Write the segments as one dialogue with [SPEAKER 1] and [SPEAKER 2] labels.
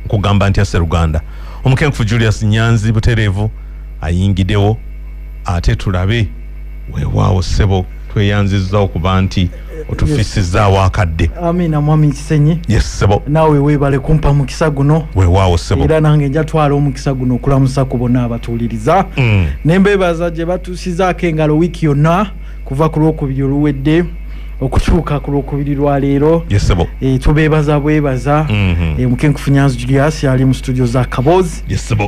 [SPEAKER 1] kugamba ntya seruganda omukenkufu julius nyanzi butereevu ayingidewo ate tulabe wewaawo sebo tweyanzizza okuba nti otufisizaawo akadde amiina mwami
[SPEAKER 2] kisenyi yes sebo naawe
[SPEAKER 1] weebale kumpa
[SPEAKER 2] mukisa guno wewaawo sebo era
[SPEAKER 1] nange njatwala
[SPEAKER 2] omukisa guno okulamusa ku bonna abatuwuliriza mm. ne mbeebaza gye batuusizaako engalo wiiki yonna kuva ku lwokubiri oluwedde okutuuka ku lwokubiri lwa leero eh,
[SPEAKER 1] tubeebaza bwebaza
[SPEAKER 2] mhm. eh, mukenkufu nyanzi julius yali mu studio za kaboozi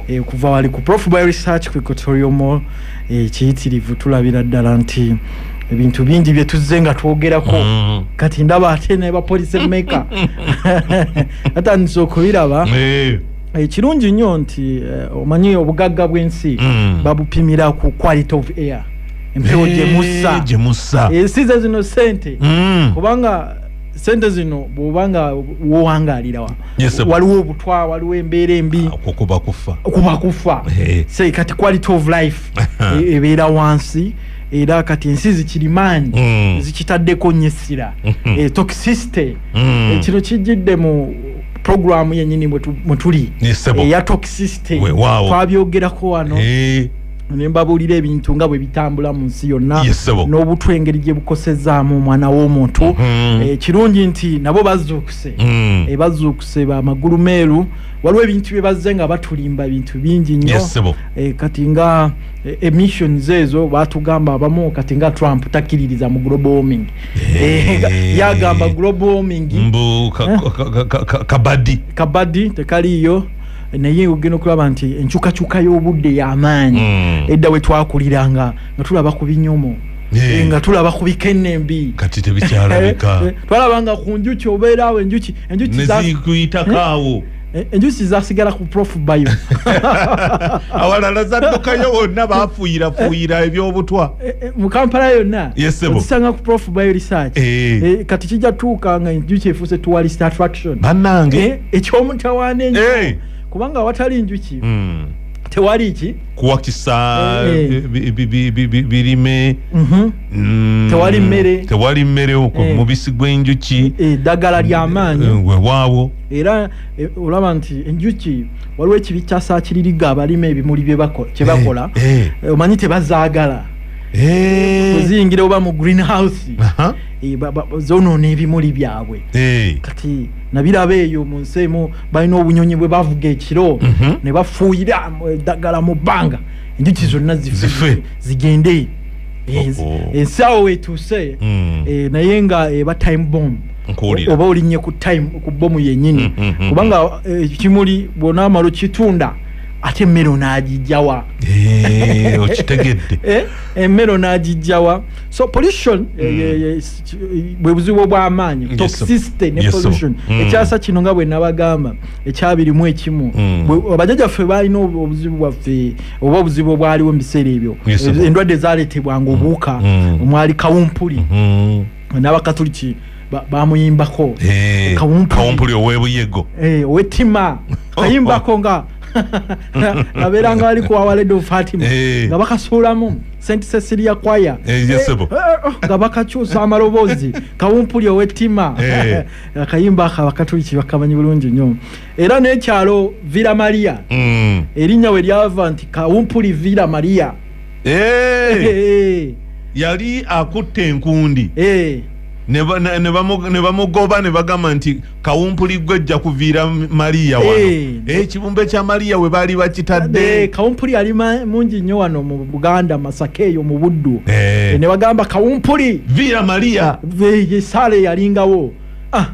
[SPEAKER 2] eh, kuva
[SPEAKER 1] wali ku prof
[SPEAKER 2] by research ku equatoriumo ekiyitirivu tulabira ddala nti ebintu bingi byetuzze nga twogerako mhm. kati ndaba ate naye bapolisi emeka atandise okubiraba ekirungi nnyo nti omanyi obugagga bw'ensi mhm. babupimira ku quality of air empewo gye mussa Eh, gye mussa ensi ze zino sente Mm. kubanga sente zino bwoba nga wowangaalira wa- Yes, sir. waliwo obutwa waliwo embeera embi okwo kuba kufa
[SPEAKER 1] kuba kufa Eh. Say, kati
[SPEAKER 2] quality of life e- ebeera wansi era kati ensi zikirimaanyi Mm. zikitaddeko nnyo essira Mhm. Eh, toxicity Mm. Eh, kino kijjidde mu programu yennyini mwe tu- mwe tuli Yes, sebo. eya toxicity Weewaawo. twabyogerako wano Eh, nembabuulira ebintu nga bwe bitambula mu nsi yonna n'obutwa engeri gye bukosezaamu omwana w'omuntu mhm. eh, kirungi nti nabo bazuukuse mm. eh, bazuukuse bamagulu meeru waliwo ebintu bye bazze nga batulimba bintu bingi nnyo eh, kati nga emissions ezo batugamba abamu kati nga trump takkiririza mu global warming yagamba global warming kabadi kabadi tekaliiyo naye ogenda okulaba nti enkyukakyuka y'obudde y'amaanyi hmm. edda we twakuliranga nga tulaba ku binyomo Eh, nga tulaba ku bikenembi kati tebikyalabika
[SPEAKER 1] eh, eh, twalabanga ku
[SPEAKER 2] njuki obeeraawo enjuki enjukiyitakawo
[SPEAKER 1] enjuki
[SPEAKER 2] zasigala ku prof bayo
[SPEAKER 1] awalala zaddukayo wonna bafuuyirafuuyira ebyobutwa mu kampala
[SPEAKER 2] yonna otusanga ku prof bayo research kati kijja tuuka nga enjuki efuuse tuwalist attraction banange
[SPEAKER 1] ekyomutawaana
[SPEAKER 2] enyo eh. kubanga awatali njuki hmm. tewali ki kuwakisa
[SPEAKER 1] eh, eh. birime mhm. hmm. tewali mmere tewali mmere okwo mubisi gw'enjuki eddagala
[SPEAKER 2] ly'amaanyi wewaawo
[SPEAKER 1] era
[SPEAKER 2] olaba nti enjuki waliwo ekibi kyasaakiririga abalima ebimuli bye bakola omanyi tebazaagala kuziyingira oba mu green house zonoona ebimuli byabwe kati nabiraba eyo mu nsi emu balina obunyonyi bwe bavuga ekiro mhm. ne bafuuyira eddagala mu bbanga enjuki zonna zife zigende ensi awo wetuuse hmm. eh, naye nga eba time bomb oba olinye ku time ku bomu yenyini hmm, hmm, kubanga eh, ekimuli bwona amalo kitunda ate emmere onaagijjawa eh,
[SPEAKER 1] okitegedde emmere
[SPEAKER 2] onaagijjawa so pollution bwe buzibu obw'amaanyi toxicity ne pollution mm. ekyasa kino nga bwe nabagamba ekyabirimu ekimu mm. bajajja ffe baalina obuzibu bwaffe oba obuzibu obwaliwo mu biseera ebyo endwadde zaaleetebwanga mm. obuwuka omwali kawumpuli mm-hmm. n'abakatuliki bamuyimbako eh, kawumpuli
[SPEAKER 1] ow'ebuyego eh, ow'ettima
[SPEAKER 2] kayimbako nga abeera nga bali kuwawaled of fatima eh. nga bakasuulamu st cecilia kwaya eh, eh, oh, oh, nga bakakyusa amaloboozi kawumpuli owettima akayimba aka bakatuliki bakamanyi bulungi nnyo era n'ekyalo villa maria mm. erinnya we lyava nti kawumpuli villa maria
[SPEAKER 1] yali akutte enkundi ne bamugoba ne bagamba nti kawumpuli gwe jja kuviira maliya wano eh, eh, ekibumbe hey. kya maliya we baali bakitadde hey, eh, kawumpuli ali
[SPEAKER 2] mungi nnyo wano mu buganda masaka eyo mu buddu hey. ne bagamba kawumpuli viira maliya
[SPEAKER 1] esaala
[SPEAKER 2] eyalingawo ah.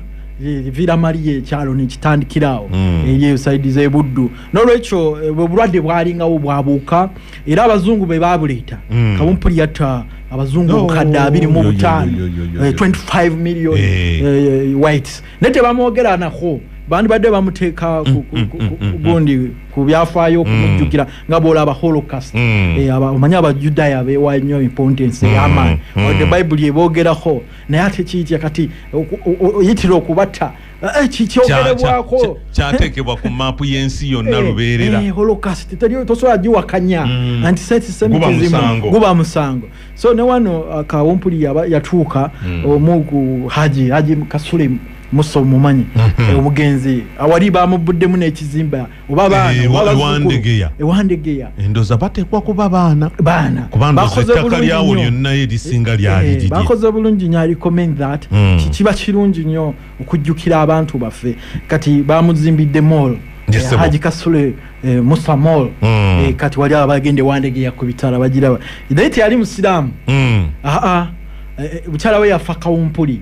[SPEAKER 2] viira maliya ekyalo nekitandikiraawo mm. eyo esaidi zebuddu nolwekyo obulwadde bwalingawo bwabuuka era abazungu be babuleeta mm. kabumpuli yatta abazungu obukadde abiri mu butaano 25 eh, million hey. uh, eh, eh, whites naye tebamwogeranako bandibadde bamuteeka mm, mm, mm, gundi ku byafaayo okumujjukira nga bwolaba holocast omanyi abajudaya bewa nnyo importance eyamaani the bible ebogerako naye ate kiitya kati oyitira okubatta Eh, kikyogerebwako kyatekebwa
[SPEAKER 1] ku maapu y'ensi yonna eh, lubeerera eh, holokasiti
[SPEAKER 2] tosobola giwakanya mm. antisetisemitizimu guba musango so ne wano uh, kawumpuli yatuuka mm. omu ku haji haji kasule musa omumanyi mm-hmm. omugenzi awali bamubbuddemu n'ekizimba oba baana Eh, oba wa- bazzukulu. ewandegeya. ewandegeya endoza bateekwa
[SPEAKER 1] kuba baana baana kubanga Bakoze ettaka bulungi lyawo nnyo. lyonna erisinga lyali Eh, liri bakoze bulungi nyo ali
[SPEAKER 2] comment that Mm. Ki- kiba kirungi nyo okujjukira abantu baffe kati bamuzimbidde mall Yes, Eh, sebo. haji kasule eh, musa mall Mm. Eh, kati wali abagende wandegeya ku bitala bagiraba naye teyali musiraamu Mm. aa bukyala we yafa kawumpuli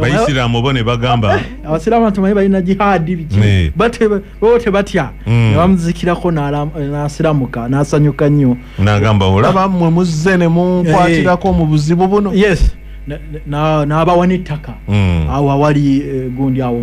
[SPEAKER 2] bayisiramu bo
[SPEAKER 1] ne bagamba eh, abasiramu atumanyi balina
[SPEAKER 2] jihaadi biki eh. bo tebatya mm. nebamuzikirako nasiramuka nasanyuka nnyo nagamba olaba
[SPEAKER 1] mwe muzze ne munkwatirako eh. mu buzibu buno yes
[SPEAKER 2] nabawa nettaka mm. awo awali gundi awo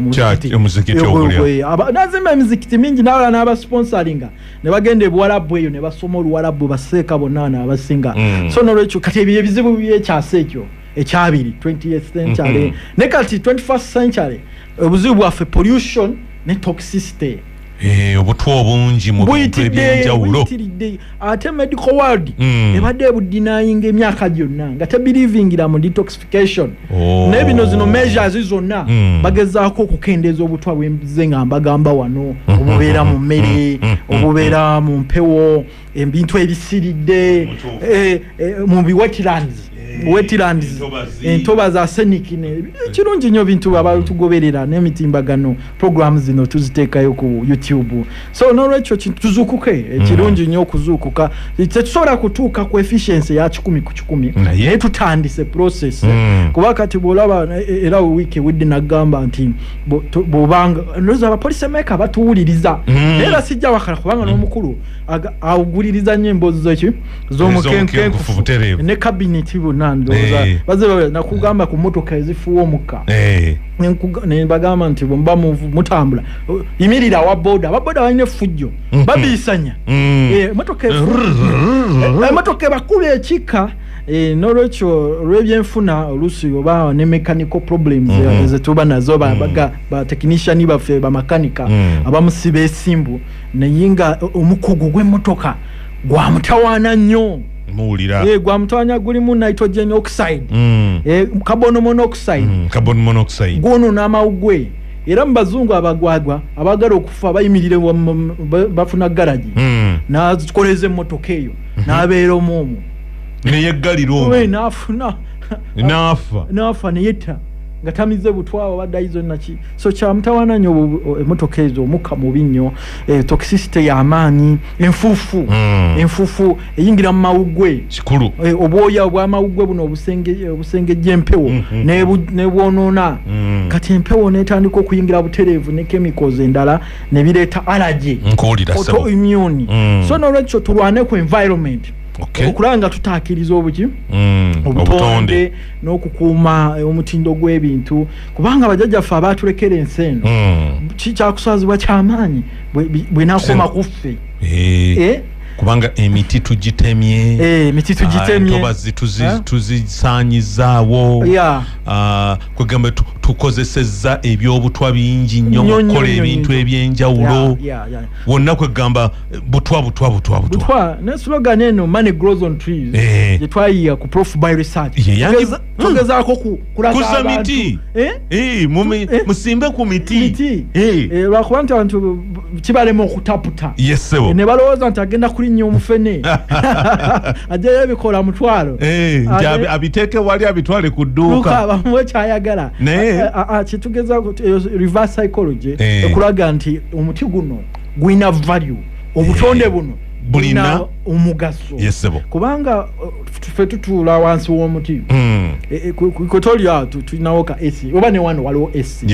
[SPEAKER 1] nazimba emizikiti
[SPEAKER 2] mingi nawala nabasponsoringa nebagenda ebuwalabu eyo nebasoma oluwalabu baseeka bonna naabasinga mm. so nolwekyo kati ebyo ebizibu byekyasa ekyo ekyabiri 20th century mm -hmm. ne kati 21st century obuzibu bwaffe pollution ne toxicity eh, obutwa
[SPEAKER 1] obungi mu bintu ebyenjawulo ate
[SPEAKER 2] medical world mm. ebadde ebudinayinga emyaka gyonna nga tebirivingira mu detoxification oh. naye bino zino measures zonna mm. bagezaako okukendeeza obutwa bwenze nga mbagamba wano mm-hmm. obubeera mu mmere mm-hmm. obubeera mu mpewo ebintu ebisiridde eh, eh, mu bi wetlands eh, wetlands entoba za senic kirungi nnyo bintu abatugoberera n'emitimbagano programu zino tuziteekayo ku youtube so nolwekyo tuzukuke mm. kirungi nnyo okuzuukuka tetusobola kutuuka ku efficiency ya kikumi ku kikumi naye tutandise process mm. kuba kati bwolaba era wiiki widde nagamba nti bobanga noza abapolisi emeka batuwuliriza mm. era sijja wakala kubanga n'omukulu awuguliriza nnyo emboozi zoki zomukenkenkufu butereevu ne kabineti bonna ndowooza eh. baze nakugamba ku motoka ezifuwa omukka eh. nebagamba nti bwemuba mutambula yimirira awaboda ababoda balina effujjo mm-hmm. babiisanya mm. eh, emotoka ebakuba ekika Eh, nolwekyo olwebyenfuna oluusi oba ne mechanical problems mm -hmm. zetuba nazo mm. batechnician ba, ba, ba baffe bamakanika mm. abamusiba esimbu naye nga omukugu gw'emmotoka gwamutawaana nnyo muwulira eh,
[SPEAKER 1] gwamutwanya gulimu
[SPEAKER 2] nitrogen oxide mm. eh, carbon monoxide mm, carbon monoxide gwono n'amawu gwe era mu bazungu abagwagwa abagala okufa bayimirire bafuna garagi mm. nakoleza emmotoka eyo mhm. n'abeera omu omu neyeggalira
[SPEAKER 1] omu n'afuna n'afa
[SPEAKER 2] n'afa neyetta nga tamize butwaba baddayizo naki so kyamutawana nyo oh, emotoka ezo omukka mubi nnyo eh, toxicity yamaanyi enfuufu mm. enfuufu eyingira mu mawuggwe kikulu eh, obwoya
[SPEAKER 1] obwamawuggwe
[SPEAKER 2] buno obusengejja eh, empewo mm -hmm. nebwonoona mm. kati empewo netandika okuyingira butereevu ne chemicals endala nebireeta allergy autoimmune mm. so nolwekyo tulwane ku environment okay. okulanga tutaakiriza obuki mm. obutonde n'okukuuma omutindo gw'ebintu kubanga bajajja ffe abaatulekera ensi eno mm. kikyakuswazibwa kyamaanyi bwenakoma kuffe eh. eh?
[SPEAKER 1] kubanga emiti tugitemye eh, emiti tugitemyentobazi ah, tuzisaanyizaawo ah, kwegamba tukozesezza ebyobutwa bingi nnyo mukukola ebintu ebyenjawulo wonna kwegamba butwa butwa butwa butwa ne slogan
[SPEAKER 2] eno money grows on trees gyetwayiya ku prof by research hmm. togezaako ku kuza miti eh?
[SPEAKER 1] Eh, eh? musimbe ku miti lwakuba nti
[SPEAKER 2] abantu kibalema okutaputa ne balowooza nti agenda kulinnya omufene ajayo ebikola mutwalo abiteeke
[SPEAKER 1] wali abitwale ku dduuka bamuwe kyayagala
[SPEAKER 2] kitugeza reverse psychology ekulaga nti omuti guno gulina value obutonde buno bulina omugaso kubanga ffe tutuula wansi w'omuti hmm. e, e, kotolya tulinawo ka esi oba ne wano waliwo esi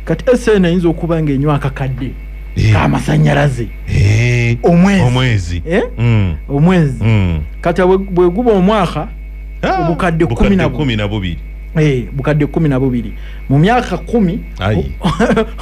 [SPEAKER 2] kati esi eno eyinza okuba nga enywa akakadde eh. kamasanyalaze eh. omwezi eh? hmm. omwezi hmm. kati bweguba omwaka ah, obukadde kumi na bubiri Eh, bukadde kumi na bubiri mu myaka kumi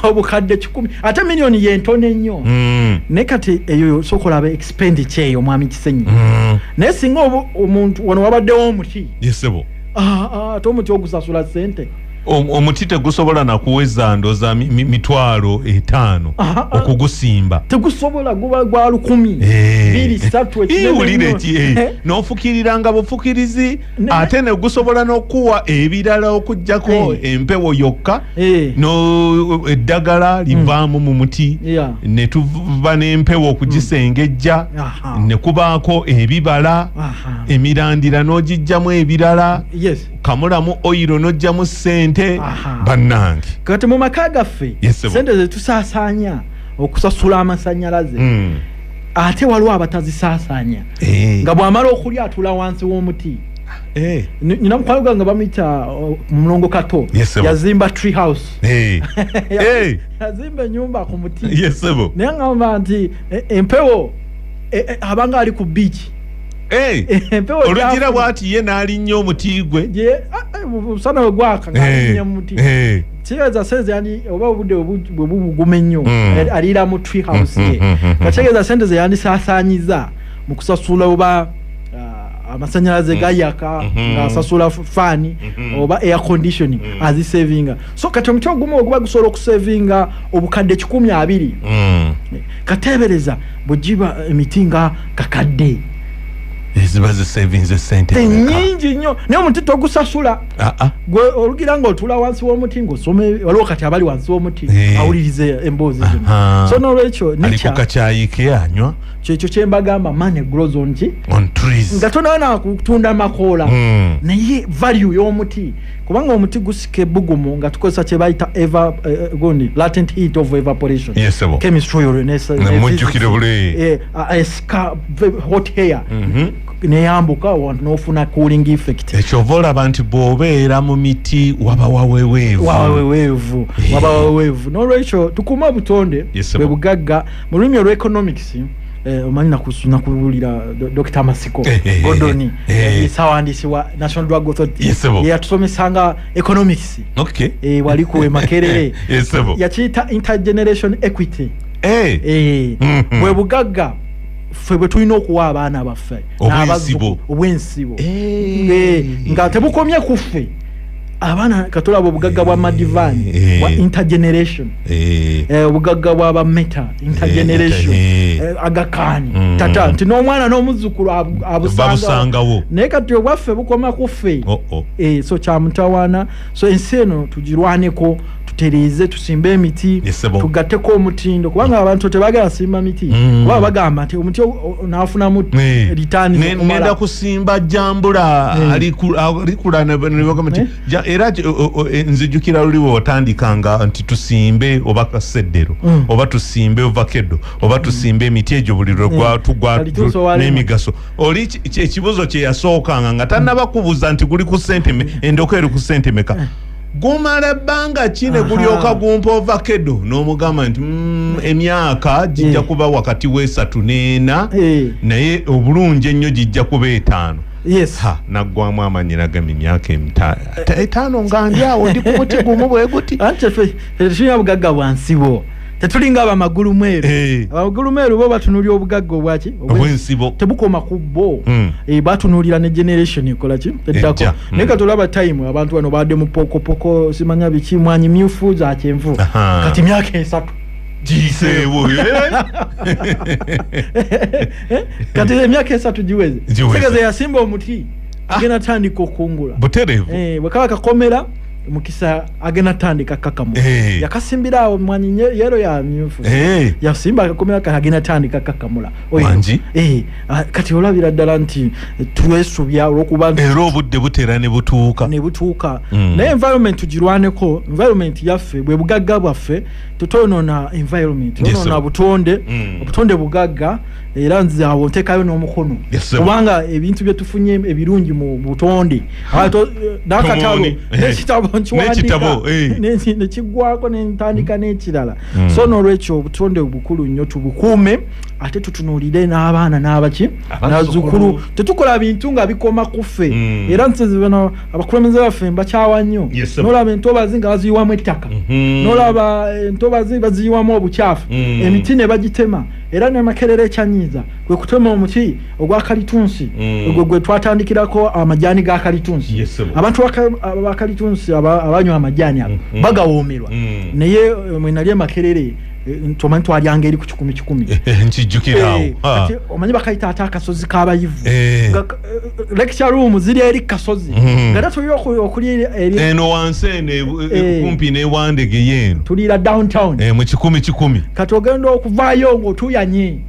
[SPEAKER 2] obukadde kikumi ate miliyoni yentono ennyo mm. naye kati eyo sokolaba sipendi kyeyo omwami kisenyi mm. naye singa omuntu wano wabaddewo omuti yesebo
[SPEAKER 1] ah, ah, ate
[SPEAKER 2] omuti ogusasula sente omuti
[SPEAKER 1] tegusobola nakuweza ndoza mitwalo etaano okugusimba tegusobola guba
[SPEAKER 2] gwa lukumi eh. biri satu ekiwulire ki eh. eh.
[SPEAKER 1] nofukiriranga bufukirizi ate negusobola nokuwa ebirala okujjako hey. Eh. empewo yokka hey. Eh. no eddagala hmm. livaamu mm. mu muti yeah. netuva nempewo okugisengejja mm. nekubaako ebibala Aha. emirandira nogijjamu ebirala yes. kamulamu oyiro nojjamu sente bannange kati mu maka
[SPEAKER 2] gaffe yes, sente zetusasaanya okusasula amasanyalaze mm. ate waliwo abatazisaasaanya eh. nga bw'amala okulya atula wansi w'omuti eh. nina mukwano gwange bamuyita uh, mulongo kato yazimba tree house eh. yazimba enyumba ku muti naye ngamba nti e, empewo e, e, abanga ali ku biiki olugira
[SPEAKER 1] bwati ye n'alinnya omuti gwe musana
[SPEAKER 2] wegwaka ngaalinnya mumuti kitegeeza sente yandi oba obudde bwe bubuguma ennyo mm. eh, aliira mu tree house ye mm, mm, nga kitegeeza sente ze yandisaasaanyiza mu kusasula oba ah, amasanyalaze gayaka mm-hmm. ngaasasula faani mm-hmm. oba air conditioning azisavinga so kati omuti ogumu oguba gusobola okusavinga obukadde kikumi abiri eh, kateebereza bwe giba emiti nga kakadde
[SPEAKER 1] ziba zisavinze sente nyingi nnyo
[SPEAKER 2] naye omuti togusasula Ah, ah. gwe olugira nga otula wansi w'omuti ng'osoma waliwo kati abali wansi w'omuti eh. awulirize emboozi zino so n'olwekyo nikakyayiike
[SPEAKER 1] anywa kyekyo kyembagamba
[SPEAKER 2] mane grows on ki nga
[SPEAKER 1] tonawe nakutunda
[SPEAKER 2] makoola hmm. naye value y'omuti kubanga omuti gusika ebugumu nga tukozesa kyebayita eh, eh, gundi latent heat of evaporation chemistry or
[SPEAKER 1] esika
[SPEAKER 2] hot hair mm-hmm. neyambuka wantu nofuna cooling effect ekyova olaba nti
[SPEAKER 1] bwobeera mu miti waba waweweevu waweweevu eh. waba waweweevu
[SPEAKER 2] nolwekyo tukuuma obutonde bwe bugagga mu lulimi olw economics eh, omanyi nakuwulira dokita masiko eh, godoni sawandiisi wa national drug authority yeyatusomesanga economics wali kuwe makerere yakiyita intergeneration equity bwe bugagga ffe bwe tulina okuwa abaana baffe obwensibo eh. nga tebukomye ku ffe abaana katulaba obugagga bwa madivan eh. bwa intergeneration eh. Eh, obugagga bwa bameta intergeneration agakaani mm. tata nti n'omwana n'omuzzukulu abusangawo naye kati obwaffe bukoma ku ffe oh, oh. so kyamutawaana so ensi eno tugirwaneko tutereeze tusimbe emiti tugatteko omutindo kubanga abantu tebagala simba miti mm. kuba bagamba nti omuti nafunamu ritaninenda kusimba
[SPEAKER 1] jambula alikula nebagamba nti era e, nzijukira luli wewatandikanga nti tusimbe oba kaseddero mm. oba tusimbe ovakedo oba tusimbe emiti egyo buli lwetugwa n'emigaso oli ekibuzo kyeyasookanga nga tanaba kubuza nti guli ku sente endoko eri ku sente meka eh. gumala ebbanga ki ne gulyoka gumpa ovakedo n'omugamba nti mm, emyaka gijja eh. kuba wakati w'esatu n'ena eh. naye obulungi ennyo gijja kuba etaano yes ha nagwamu amanyi nagamba emyaka etaano nga ndi awo ndi ku muti gumu bwe guti anti ffe
[SPEAKER 2] tetunywa bugagga bwansibo tetulinga abamagulu mweru eh. abamagulu mweru bo batunulira obugagga obwaki obwensibo tebukoma
[SPEAKER 1] ku bo
[SPEAKER 2] hmm. eh, batunulira ne generation ekola ki eddako hmm. naye kati olaba time abantu bano baadde mu pokopoko simanya biki mwanyi myufu za kyenvu kati myaka esatu giyiseewo kati emyaka esatu giweze tegeza yasimba omuti ah. agenda tandika okungula buterevu eh, bwekaba
[SPEAKER 1] kakomera
[SPEAKER 2] mukisa agenda tandika kakamu eh. yakasimbira awo mwanyi yero ya myufu eh. yasimba akakomera kati agenda tandika kakamula wangi eh.
[SPEAKER 1] ah, kati
[SPEAKER 2] olabira ddala nti twesubya olwokuba era obudde butera
[SPEAKER 1] ne butuuka ne butuuka mm. naye environment tugirwaneko environment yaffe bwe bugagga bwaffe tutonoona environment yes, onoona butonde mm. obutonde bugagga era nze awo ntekayo n'omukono kubanga ebintu bye tufunye ebirungi mu butonde nakatalo eh, nekitabo eh.
[SPEAKER 2] nkiwandika eh. nekiggwako nentandika n'ekirala hmm. so n'olwekyo obutonde obukulu nnyo tubukuume ate tutunuulire n'abaana n'abaki nazukulu tetukola bintu nga bikoma kuffe hmm. era nsizibano abakulembeze baffe mbakyawa nnyo nolaba entobazi nga baziyiwamu ettaka hmm. nolaba entobazi baziyiwamu obukyafu emiti ne bagitema era ne makerere ekyanyiiza kwe kutema omuti ogwa kalitunsi mm. ogwo gwe twatandikirako amajaani ga kalitunsi abantu ba kalitunsi abanywa amajaani ago mm, mm. bagawoomerwa naye eh, mwe nali emakerere eh, tomanyi twalyanga eri ku kikumi kikumi eh, nkijjukirawo
[SPEAKER 1] omanyi
[SPEAKER 2] bakayita ate akasozi k'abayivu lecture room ziri eri kasozi mm-hmm. nga tatuli okulya eno wansi
[SPEAKER 1] eno e- e- eh. kumpi newandege yeeno tuliira downtown
[SPEAKER 2] eh, mu kikumi kikumi
[SPEAKER 1] kati ogenda
[SPEAKER 2] okuvaayo ngaotuyanye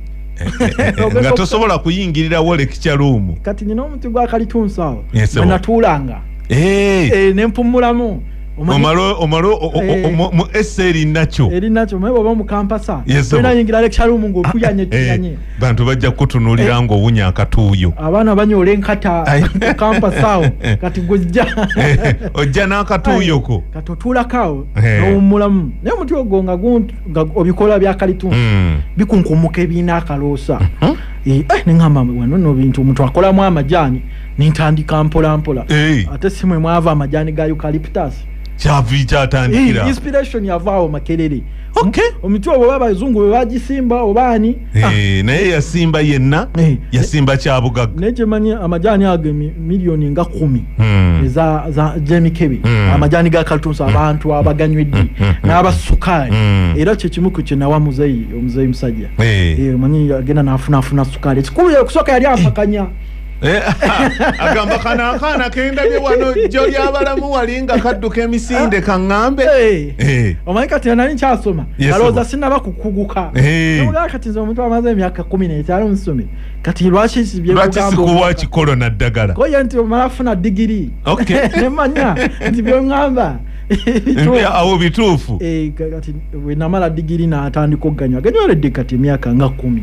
[SPEAKER 2] eh,
[SPEAKER 1] nga tosobola kuyingirirawo lecture room kati nina omuti
[SPEAKER 2] gwakalitunsawo anatuulanga nempumulamu omalo omalo
[SPEAKER 1] eh. mu ese eri nakyo eri nakyo mwe baba mu
[SPEAKER 2] kampasa yes, so. yingira lecture room ngo kuyanye kuyanye eh. bantu bajja
[SPEAKER 1] kukutunuulira eh. ng'owunya akatuuyo abaana banyola enkata
[SPEAKER 2] kampasaawo kati gujja eh, ojja
[SPEAKER 1] n'akatuuyoko kati otuulakaawo
[SPEAKER 2] eh. nowummulamu naye omuti ogwo nga obikola byakalitunsi hmm. bikunkumuka ebiina akaloosa hmm? neŋamba wano no bintu omuntu akolamu amajaani nintandika mpolampola ate simwe mwava amajaani ga eucalyptus kyavi
[SPEAKER 1] kyatandikira inspiration yavaawo
[SPEAKER 2] makerere okay omuti ogwo oba abazungu be bagisimba oba ani Ah, Eh, naye
[SPEAKER 1] yasimba yenna Eh. yasimba kyabugagga naye kyemanyi amajaani
[SPEAKER 2] ago emi- miliyoni nga kumi Hmm. eza za- gy'emikebe Mm. amajaani ga kaltunsi abantu abaganywedde Mm, mm, mm. n'abasukaali Mm. era kyekimu ku kyenawa muzeyi omuzeyi musajja Eh. Eh, omanyi agenda nafunaafuna sukaali ekikulu yakusooka yali ampakanya Eh,
[SPEAKER 1] agamba kano akaana kendabye wano jjo lyabalamu wali nga kadduka emisinde ah. kaŋŋambe eh. eh. omanyi
[SPEAKER 2] kati nali nkyasoma alowooza sinaba kukuguka ogaa kati nze omuntu amaze emyaka kumi netaano musome kati lwaki sikuwa
[SPEAKER 1] kikolo naddagala koye nti omala funa
[SPEAKER 2] digiri nemanya nti byoŋŋamba
[SPEAKER 1] awo bituufu kati
[SPEAKER 2] wenamala digiri natandika okuganywa aganywalede kati emyaka nga kumi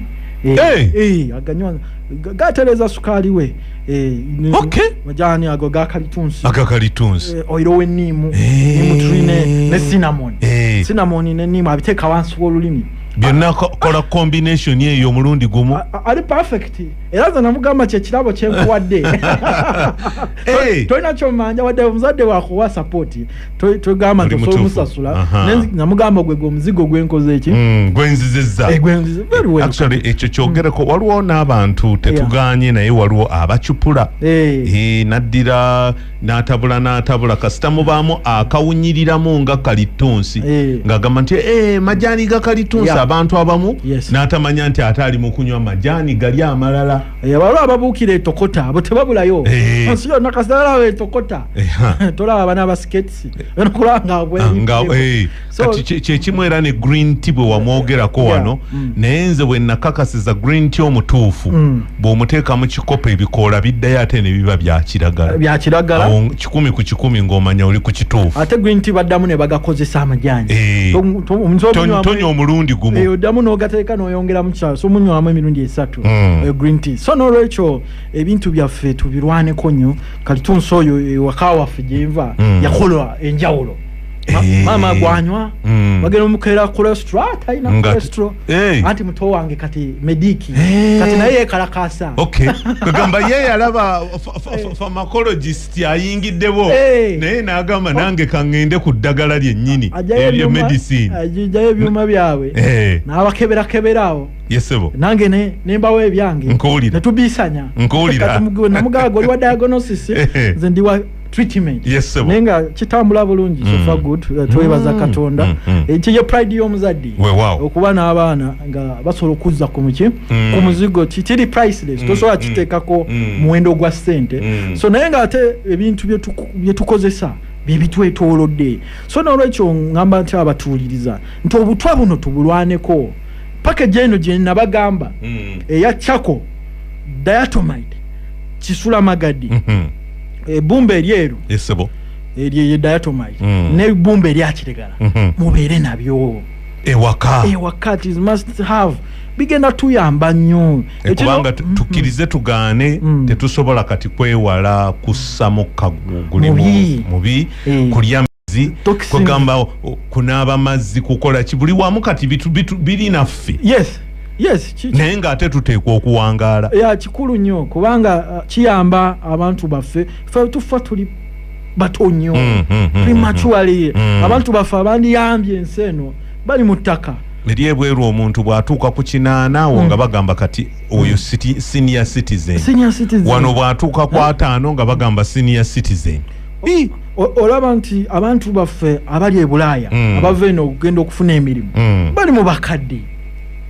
[SPEAKER 2] aganywa Ga- gatereza sukaali we eh, ne- Okay. majaani ago gakalitunsi akakalitunsi Eh, oil w'enniimu Eh. niimu tuli ne- ne cinnamon Eh. cinnamon ne niimu abiteeka wansi w'olulimi byonna ko- kola
[SPEAKER 1] combination eyo omulundi gumu A- a- ali perfect
[SPEAKER 2] era nze namugamba kyekirabo kyenkuwadde Eh. tolina kyomanja wadde omuzadde wakuwa sapoti togamba nti osobola omusasula nga mugamba gwe gweomuzigo gwenkoze eki mm, gwenziziza
[SPEAKER 1] eh, actually ekyo kyogereko mm. waliwo n'abantu tetuganye naye waliwo abacupula eh. Eh, naddira n'atabula n'atabula kasita mubaamu akawunyiriramu nga kalittunsi ng'agamba nti majaani ga kalittunsi abantu abamu n'atamanya nti ate ali mu kunywa majaani gali amalala Eh, waliwo ababuukira
[SPEAKER 2] etokota abo tebabulayo eh. ensi yonna kasalalawo etokota eh, tolaba abana abasiketisi
[SPEAKER 1] kyekimu ah, era ne green t bwe wamwogerako wano mm. naye nze bwe nakakasiza green t omutuufu mm. bw'omuteeka mu kikopo ebikoola biddayo ate ne biba byakiragala kikumi ku kikumi ng'omanya oli ku kituufu ate green t baddamu ne
[SPEAKER 2] bagakozesa amajani
[SPEAKER 1] tonya omulundi gumu oddamu n'ogateeka
[SPEAKER 2] n'oyongeramu kisa so munywamu emirundi esatu Mm. Eh, green tea so nolwekyo ebintu byaffe tubirwaneko nnyo kati tunsi oyo ewaka eh, waffe gyenva mm. yakola enjawulo eh. maama gwanywa mm. bagenda omukera kolestro talina kolestro anti muto wange kati mediki kati naye yekalakasa agamba
[SPEAKER 1] ye yalaba famacologist ayingiddewo naye nagamba nange kaŋŋende ku ddagala lyennyini eryo medicine ajayo ebyuma
[SPEAKER 2] byabwe nabakeberakeberawo yesebo
[SPEAKER 1] nange ne nembawo
[SPEAKER 2] ebyange nkuwulira netubisanya nkuwulira namugaga oli wa diagnosis eh, eh. nze ndi wa treatment yesebo naye nga kitambula bulungi mm. sofa good eh, twebaza mm. katonda mm. mm. ekyo ye pride y'omuzadde wewawo okuba n'abaana nga basobola okuzza ku muki mm. ku muzigo kiri priceless mm. tosobola mm. kiteekako mm. muwendo gwa ssente mm. so naye nga ate ebintu byetukozesa bye byebitwetoolodde so nolwekyo ngamba nti abatuuliriza nti obutwa buno tubulwaneko package eno gye nabagamba mm. eya chako diatomite kisula magadi mm -hmm. ebumba eryeru esebo
[SPEAKER 1] eryo ye
[SPEAKER 2] diatomite mm. ne bumba erya kitegala mm -hmm. mubere nabyo ewaka ewaka it is must have bigenda tuyamba nnyo eh, kubanga mm-hmm.
[SPEAKER 1] tukirize tugaane mm. tetusobola kati kwewala kussamu kagugulimu mubi, mubi. Eh. kulya mazzi kwegamba oh, kunaaba mazzi kukola ki buli wamu kati biri naffe yes yes
[SPEAKER 2] naye ngaate
[SPEAKER 1] tuteekwa okuwangaala ya kikulu nnyo
[SPEAKER 2] kubanga uh, kiyamba abantu baffe fe tufa tuli bato nnyo mm, mm, mm, prematurely abantu baffe abandiyambye ensi eno bali mu ttaka eri ebweru
[SPEAKER 1] omuntu bw'atuuka ku kinaana awo nga bagamba kati oyo senior citizen wano bw'atuuka ku ataano nga bagamba senior citizen Ii, o-
[SPEAKER 2] olaba nti abantu baffe abali e bulaaya Mm. abava eno okugenda okufuna emirimu Mm. bali mu bakadde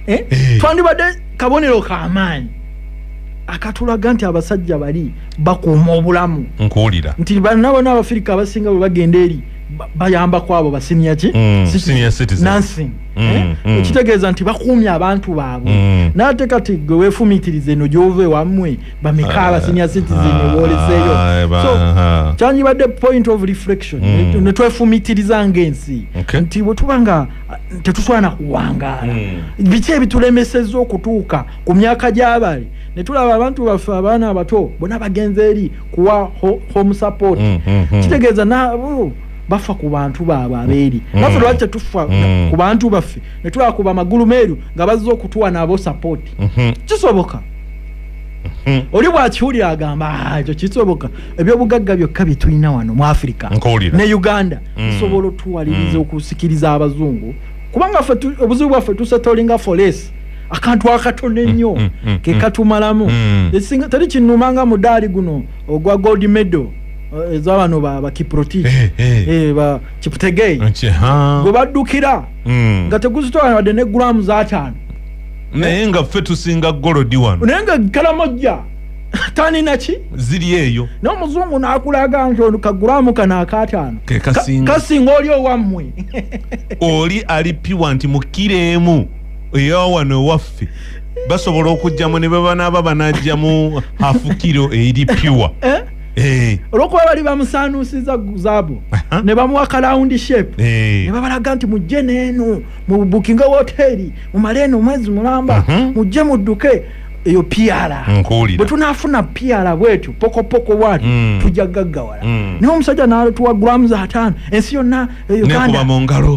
[SPEAKER 2] Eh? Eh. twandibadde kabonero kamaanyi akatulaga nti abasajja bali bakuuma obulamu nkuwulira nti
[SPEAKER 1] banna bona
[SPEAKER 2] abafirika abasinga bwe bagenda eri ba- bayamba kwabo basiniya ki Mm, Citizen. senior citizen.
[SPEAKER 1] Nursing. Mm,
[SPEAKER 2] Eh? mm. ekitegeeza nti bakuumye abantu baabwe Mm. n'ate kati gwe weefumiitiriza eno gy'ova ewamwe bameka ah, abasinya citizen ah, woleseyo ah, so kyandibadde point of reflection mm. netwefumitiriza ngaensi okay. nti bwetuba nga tetuswana kuwangaala mm. biki ebitulemeseza okutuuka ku myaka gyabali netulaba abantu baffe abaana abato bona bagenze eri kuwa ho, home support mm, mm, mm. kitegeeza nabo bafa ku bantu baabwe abeeri mm. bafe lwaki tetufa mm. ku bantu baffe netulaba ku bamagulu meeru nga bazze okutuwa nabo support mm -hmm. kisoboka Hmm. oli bwakiwulira agamba ah, ekyo kisoboka ebyobugagga byokka byetulina wano mu afirika ne uganda hmm. nsobola otuwaliriza hmm. okusikiriza abazungu kubanga obuzibu bwaffe tusetolinga foresi akantu akatono ennyo kekatumalamu teri kinuma nga mudaali guno ogwa gold medal eh, ezabano bakiproti eh, eh. bakiputegei gwe baddukira nga teguzitoana wadde ne gulamu zataano naye nga
[SPEAKER 1] ffe tusinga golodi wano naye nga kalamojja
[SPEAKER 2] tanina ki ziri eyo
[SPEAKER 1] n'omuzungu n'akulaga
[SPEAKER 2] nti ono kagulamu kano akaataano kasinga oli owammwe oli
[SPEAKER 1] ali piwa nti mukkira emu eyawano ewaffe basobola okujjamu ne bebanaaba banajjamu afukiro eri piwa eh? Eh. olwokuba bali bamusaanuusiza zaabu ne bamuwa kalawundi shape eh. ne babalaga nti mujje neeno mubukinga woteri mumale eno omwezi mulamba mhm. mujje mudduke eyo piala bwe tunaafuna piala bwetyo pokopoko wali mm. tujja gaggawala mm. naye omusajja natuwa grams ataano ensi yonna e, uganda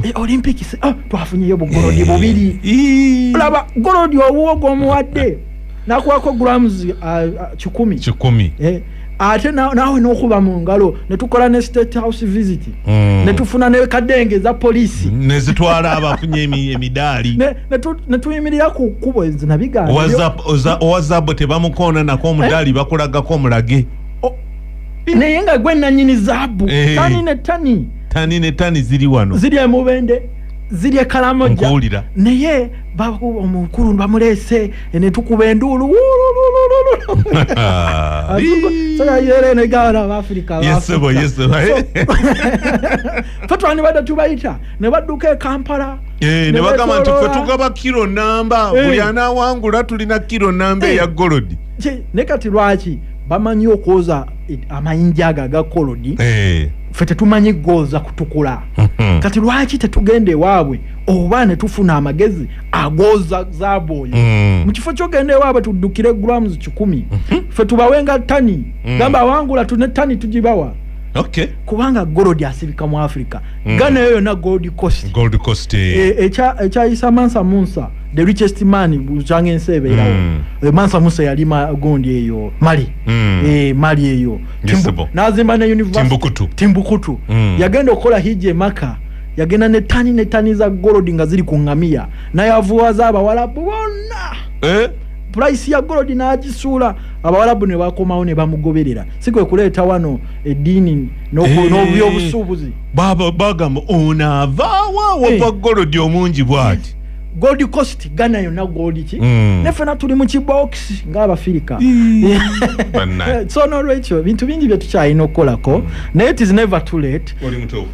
[SPEAKER 1] e, olympics oh, twafunyeyo bugolodi eh. bubiri laba golodi owuwo gwomuwadde nakuwako grams uh, uh, kikumi kikumi eh. ate naawe nokuba mu ngalo netukola ne state house visit mm. netufuna nekadenge eza polisi nezitwala abafunye emidaali
[SPEAKER 2] netuyimirira ku kkubo enzi nabigaowazaabo
[SPEAKER 1] tebamukoona nako omudaali eh? bakulagako omulage
[SPEAKER 2] naye nga gwe nanyini zaabu eh. tani ne tani tani ne tani ziri wano ziri emubende ziri ekalamoja naye omukulu bamuleese ene tukuba enduulu fetwandibadde tubayita ne badduka ekampala eh, ne bagamba
[SPEAKER 1] nti fe tugaba kiro namba eh. buli anawangula tulina kiro namba eya eh. golodi ne kati
[SPEAKER 2] lwaki bamanyi okwoza amayinja ago aga kolodi fe tetumanyi gooza kutukula hmm. kati lwaki tetugenda ewaabwe oba ne tufuna amagezi agooza zaabu oyo mm. mu kifo kyogenda ewaabwe tuddukire grams kikumi mhm. fe tubawenga tani mm. gamba awangula tune tani tugibawa Okay. kubanga gold asibika mu africa mm. gana eyo yona gold coast gold coast eh. e, ekyayisa e mansa munsa the richest man bucanga ensi ebeerawo mm. e, mansa munsa yali gondi eyo mali mm. e, mali eyo nazimba ne university timbukutu, timbukutu. Mm. yagenda okukola hiji emaka yagenda ne tani ne tani za golodi nga ziri ku ngamiya nayavuwaza abawalabu bonna eh? purayisi ya golodi n'agisuula abawalabu ne bakomawo ne bamugoberera si kwe kuleeta wano eddiini eh, n'obyobusuubuzi bagamba
[SPEAKER 1] onaavaawa wava eh. golodi omungi bwati gold coast
[SPEAKER 2] ghana yonna gold ki mm. nefena tuli mu kibox ngaabafirika so nolwekyo bintu bingi byetukyalina okukolako mm. naye tis never too late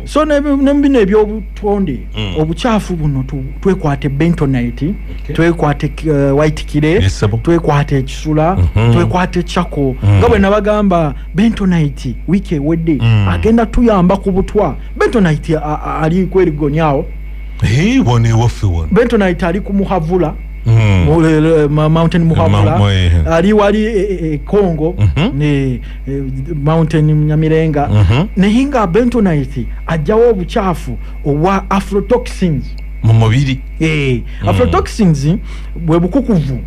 [SPEAKER 2] so nebino ebyobutonde mm. obukyafu buno twekwate bentonite okay. twekwate uh, white kire yes, twekwate ekisula mm -hmm. twekwate chako mm. nga bwenabagamba bentonite wiiki ewedde mm. agenda tuyamba ku butwa bentonite
[SPEAKER 1] ali
[SPEAKER 2] kwerigonyawo
[SPEAKER 1] hey, bentonite ali ku
[SPEAKER 2] muhavula mm. mountain muhavula ali wali e, e, e, congo mm -hmm. e, eh, mountain nyamirenga mm -hmm. naye nga bentonite ajjawo obucaafu obwa afrotoxins mu mubiri
[SPEAKER 1] hey, eh, mm. afrotoxins
[SPEAKER 2] mm. bwe bukukuvu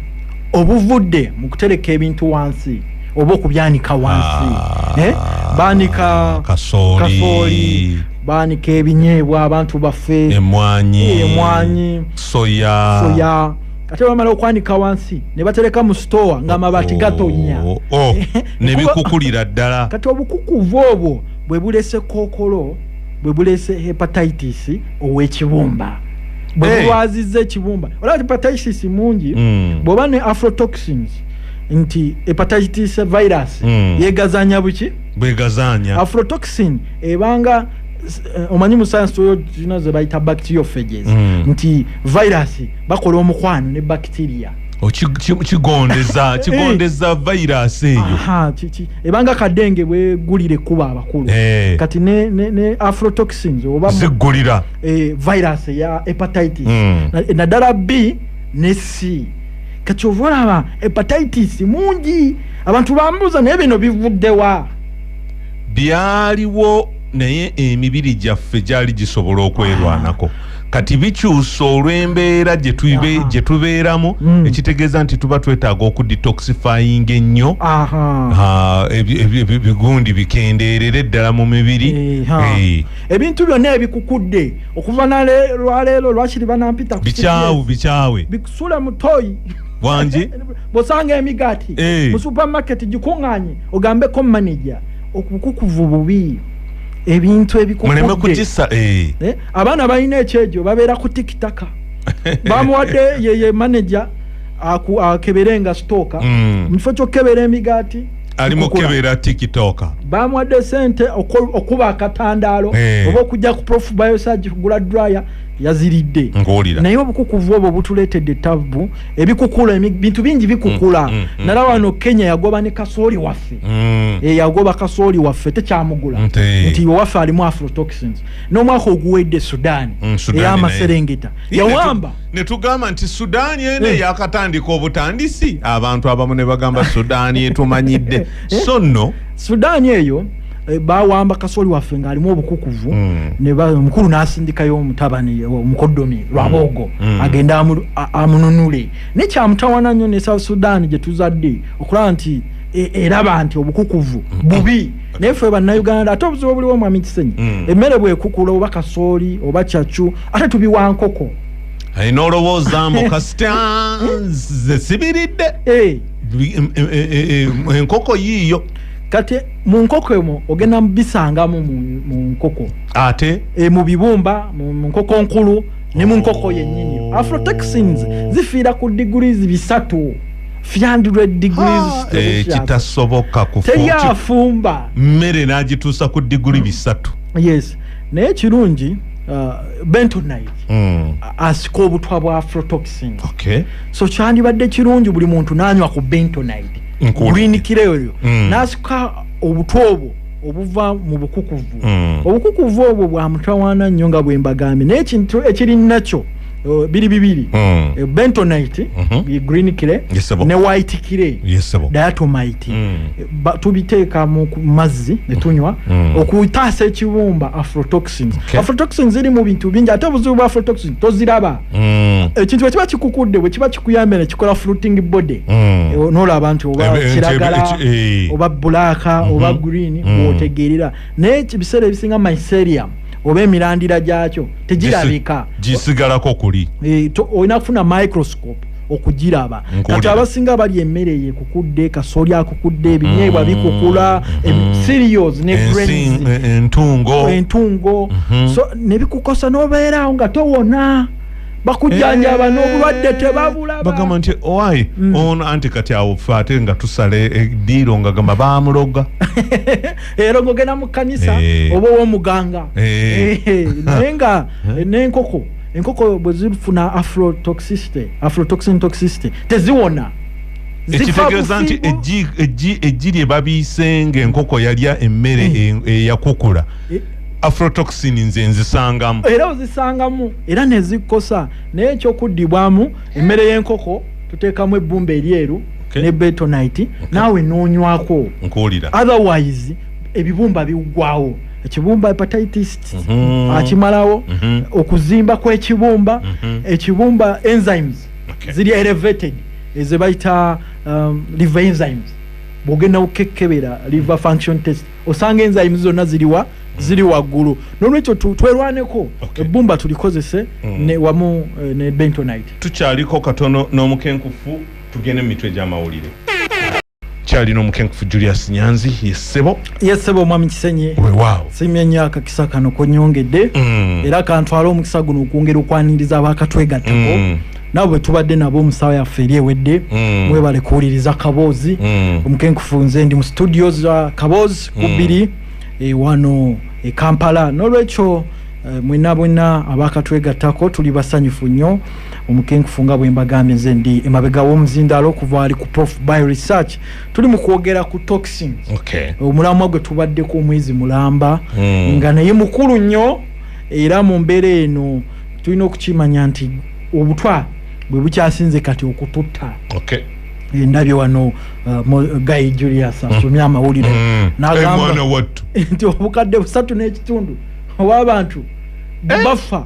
[SPEAKER 2] obuvudde mu kutereka ebintu wansi oba okubyanika wansi ah, eh? baanika kasooli baanika ebinyeebwa abantu baffe emwanyi soya, soya. ate bamala okwanika wansi ne batereka mu sitowa ng'amabaati oh, gatonnya oh, oh. ne
[SPEAKER 1] bikukulira ddala kati obukukuvu
[SPEAKER 2] obwo bwe buleese kookolo bwe buleese hepatitis ow'ekibumba bwe bulwazizza ekibumba olaba hepatitis mungi hmm. bw'oba ne afrotoxins nti hepatitis virus hmm. yeegazanya buki bwegazanya
[SPEAKER 1] afrotoxin
[SPEAKER 2] ebanga eh, omanyi mu science toyo zino ze bayita bacteriophages hmm. nti virus bakola omukwano ne bacteria oh, kigondeza eh.
[SPEAKER 1] kigondeza virus eyo ebanga
[SPEAKER 2] kadenge bwegulire kuba abakulu eh. kati ne, ne, ne afrotoxins oba zigulira eh,
[SPEAKER 1] virus
[SPEAKER 2] ya hepatitis mm. naddala na b ne c kati ova olaba hepatitis mungi abantu bambuuza naye bino bivuddewa byaliwo
[SPEAKER 1] naye emibiri gyaffe gyali gisobola okwerwanako ah. kati bikyusa olw'embeera gye tuibe- gye tubeeramu Mm. ekitegeeza nti tuba twetaaga okudetoxifyinga ennyo Aha. Ah, ebi- ebi- ebi- ebigundi bikendeerere ddala mu mibiri Eh, ha. Eh, ebintu
[SPEAKER 2] byonna ebikukudde okuva nale- lwaleero lwakiri banampita ku bikyawu CBS. bikyawe
[SPEAKER 1] bikusule mutoyi
[SPEAKER 2] Wangi?
[SPEAKER 1] bosanga
[SPEAKER 2] emigaati Eh. mu supermarket gikuŋŋanye ogambeko manager okukukuva obubi ebintu ebikukudde muleme kugisa eh.
[SPEAKER 1] Eh, abaana
[SPEAKER 2] balina ekyejo babeera ku tikitaka bamuwadde yeye maneja akebere nga sitooka mm. mukifo kyokukebera emigaati ali mukebera
[SPEAKER 1] tikitoka bamuwadde sente
[SPEAKER 2] okuba akatandaalo eh. oba okujja ku prof biosage kugula dryer yaziridde naye obukukuvu obwo butuleetedde ettabu ebikukula ebintu bingi bikukula mm, mm, mm. nala wano kenya yagoba ne kasooli waffe eyagoba eh, kasooli waffe tekyamugula nti owaffe alimu afrotoxins n'omwaka oguwedde sudaani mm, ey'amaserengeta yawamba ne tugamba nti
[SPEAKER 1] sudaani eno eh. eyakatandika obutandisi abantu abamu ne bagamba sudaani etumanyidde eh. so nno sudaani eyo
[SPEAKER 2] eh, bawamba kasoli waffe ng'alimu obukukuvu mm. omukulu n'asindikayo omutabani omukodomi lwaboogo mm. agende amununule naye kyamutawana nnyo ne south sudaani gye tuzadde okulaba nti e, eraba nti obukukuvu bubi naye ffe bannayuganda ate obuzibu obuliwo mwami kisenyi mm. emmere bwekukula oba kasooli oba cacu ate tubiwa nkoko aye
[SPEAKER 1] nolowooza mbu kasita nze sibiridde eh. enkoko yiiyo kati mu
[SPEAKER 2] nkoko emu ogenda mubisangamu mu nkoko ate e, mu
[SPEAKER 1] bibumba
[SPEAKER 2] mu nkoko nkulu ne mu nkoko yennyini oh. afrotaxins zifiira ku degrees bisatu Eh, kitasoboka
[SPEAKER 1] kuteri afumba
[SPEAKER 2] mmere n'agituusa
[SPEAKER 1] ku diguli bisatu yes
[SPEAKER 2] naye ekirungi uh, bentonite mm. asika obutwa bwa afrotoxin okay. so kyandibadde kirungi buli muntu n'anywa ku bentonite gulinikira eyo mm. n'asika obutwa obwo obuva mu bukukuvu mm. obukukuvu obwo bwa mutawaana nnyo nga bwe mbagambye naye ekintu ekiri nakyo Oh, biri bibiri mm. Eh, bentonite mm -hmm. green kire yes, ne white kire yes, diatomite mm. Eh, ba, tubiteeka mu mazzi netunywa mm. mm. okutaasa ekibumba afrotoxins okay. afrotoxins ziri mu bintu bingi ate obuzibu bwa afrotoxin toziraba mm. ekintu bwekiba kikukudde bwekiba kikuyambye nekikola fruiting body mm. e, eh, nolaba nti oba kiragala oba bulaaka mm -hmm. oba mm-hmm. green mm. otegeerera naye ebiseera ebisinga mycerium oba emirandira gyakyo tegirabika gisigalako
[SPEAKER 1] kuli e, olina kufuna
[SPEAKER 2] microscope okugiraba kati abasinga bali emmere yekukudde kasoli akukudde ebinyeebwa mm. bikukula serios ne entungo entungo mhm. so nebikukosa nobeerawo nga towona bakujanjaba eh, nobulwadde tebabulabagamba nti owai
[SPEAKER 1] mm. ono anti kati awo fe ate nga tusala ediiro nga gamba bamuloga
[SPEAKER 2] era ngogenda mu kkanisa eh. oba owomuganga eh. eh, naye nga nenkoko enkoko bwe zifuna afrotoxicity afrotoxin toxicity teziwona ekitegeeza
[SPEAKER 1] nti eggi lye babiise ngaenkoko yalya emmere eyakukula afrotoxin nze nzisangamu era ozisangamu
[SPEAKER 2] era nezikosa naye ekyokuddibwamu emmere y'enkoko tuteekamu ebbumba eryeru okay. ne betonite okay. naawe noonywako nkuwulira
[SPEAKER 1] otherwise
[SPEAKER 2] ebibumba biggwawo ekibumba hepatitis mm -hmm. akimalawo mm -hmm. okuzimba kw'ekibumba mm -hmm. ekibumba enzymes okay. ziri elevated eze bayita um, liver enzymes bwogenda kukekebera liver function test osanga enzymes zonna ziriwa mm -hmm. ziri waggulu nolwekyo twerwaneko ebbumba tulikozese mm. wamu eh, ne bentonite tukyaliko katono
[SPEAKER 1] n'omukenkufu tugende mu mitwe egy'amawulire kyalina omukenkufu julius nyanzi yesebo yesebo omwami kisenye
[SPEAKER 2] wewaawo simye nyo
[SPEAKER 1] akakisa
[SPEAKER 2] kano konyongedde mm. era kantwala omukisa guno okwongera okwaniriza abakatwegattako mm. nabo bwetubadde nabo omusawo yaffe eri ewedde mm. mwebale kuwuliriza kaboozi mm. omukenkufu nze ndi mu studio za kaboozi mm. kubiri mm. e, wano e kampala nolwekyo e, eh, mwena bwena abakatwegattako tuli basanyufu nnyo omukenkufu nga bwembagambye nze ndi emabega womuzindaalo okuva ali ku prof by research tuli mu kwogera ku toxin okay. omulamwa gwe tubaddeko omwezi mulamba mm. nga naye mukulu nnyo era mu mbeera eno tulina okukimanya nti obutwa bwe bukyasinze kati okututta okay. endabye wano uh, guy julius hmm. asomye amawulire mm. nagamba nti obukadde busatu n'ekitundu owabantu eh? bafa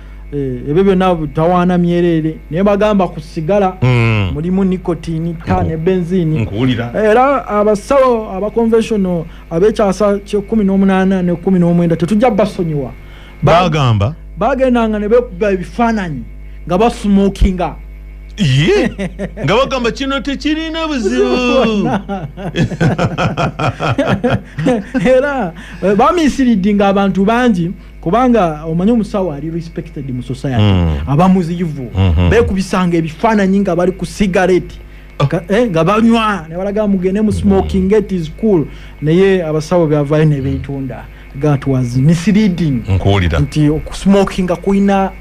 [SPEAKER 2] Eh, ebyo byonna tawaana myereere naye bagamba ku sigala hmm. mulimu nicotini ta ne benzini era abasawo aba conventional abekyasa kyekumi n'omunaana ne kumi n'omwenda tetujja basonyiwa bagamba bagendanga ne bekuba ebifaananyi nga basmokinga ye
[SPEAKER 1] nga bagamba kino tekirina buzibu
[SPEAKER 2] era eh, bamisiridinga abantu bangi kubanga omanyi omusawo ali respected mu society mm. aba muzivu mm -hmm. bekubisanga ebifaananyi nga bali ku sigareti oh. eh, nga banywa nebalaga mugende mu smoking mm. it is cool naye abasawo byavayo nebetunda that was misleading nkuwulira nti okusmokinga kulina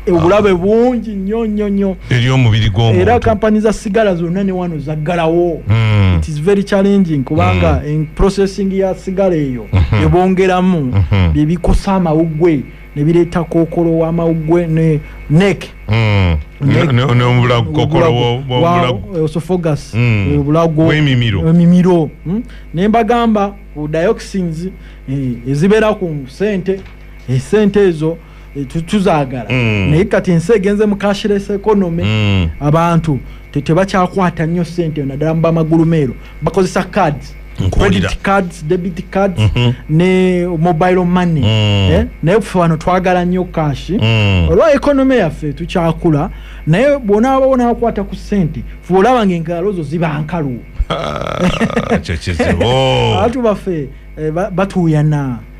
[SPEAKER 2] obulabe bungi nyo nyo nyo eri omubiri gwomuntu
[SPEAKER 1] era kampani za sigala
[SPEAKER 2] zonna ne wano zaggalawo mm. it is very challenging kubanga mm. processing ya sigala eyo mm -hmm. ebongeramu mm -hmm. byebikosa amawugwe nebireeta kokolo wamawugwe ne nek mm. neobulagukokoloosofogas mm. obulaguemimiro emimiro mm. ne mbagamba ku dioxins eh, ezibeera ku sente esente eh, ezo eh, tu- tuzaagala Mm. naye kati ensi egenze mu cashless economy Mm. abantu te- tebakyakwata nnyo sente naddala mu bamagulu meero bakozesa cards Nkuwulira. credit cards debit cards Mhm. ne mobile money Mm. eh? naye ffe wano twagala nnyo kashi Mm. olwa economy yaffe tukyakula naye bwonaaba wonakwata ku sente fuba olaba nga engalo zo ziba nkalu Ah, ekyo kizibu abantu baffe eh, ba- batuuyana